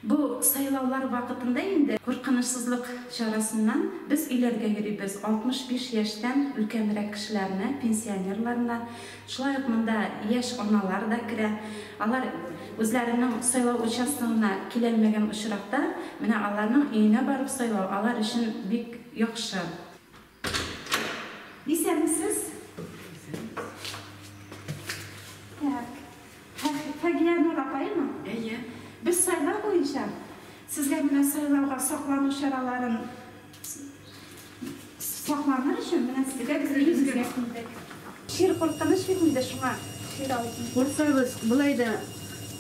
Бу сайлаулар вакытында инде куркынычсызлык чарасыннан без өйләргә йөрибез, 65 яшьтән өлкәнрәк кешеләрне, пенсионерларны, шулай ук монда яшь аналар да керә. Алар үзләренең сайлау участогына киләлмәгән очракта, менә аларның өенә барып сайлау алар өчен бик яхшы. Исәнмесез. Так. Фагия Нур апаймы? Әйе. Без сайлау буенча сезгә менә сайлауга саклану чараларын сакланыр өчен менә сезгә без өебезгә килдек. Чир куркыныч бит инде шуңа чир алдым. Курксагыз, болай да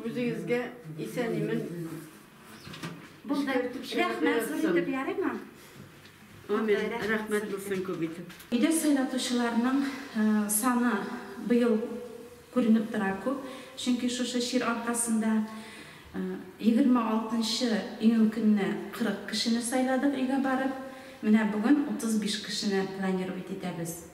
Үзегезгә исән-имен Булды. Рәхмәт зур итеп, ярыймы? Амин. Рәхмәт булсын күп итеп. Өйдә сайлатучыларның саны быел күренеп тора күп, чөнки шушы чир аркасында 26 нчы июнь көнне 40 кешене сайладык өйгә барып, менә бүген 35 кешене планирует итәбез.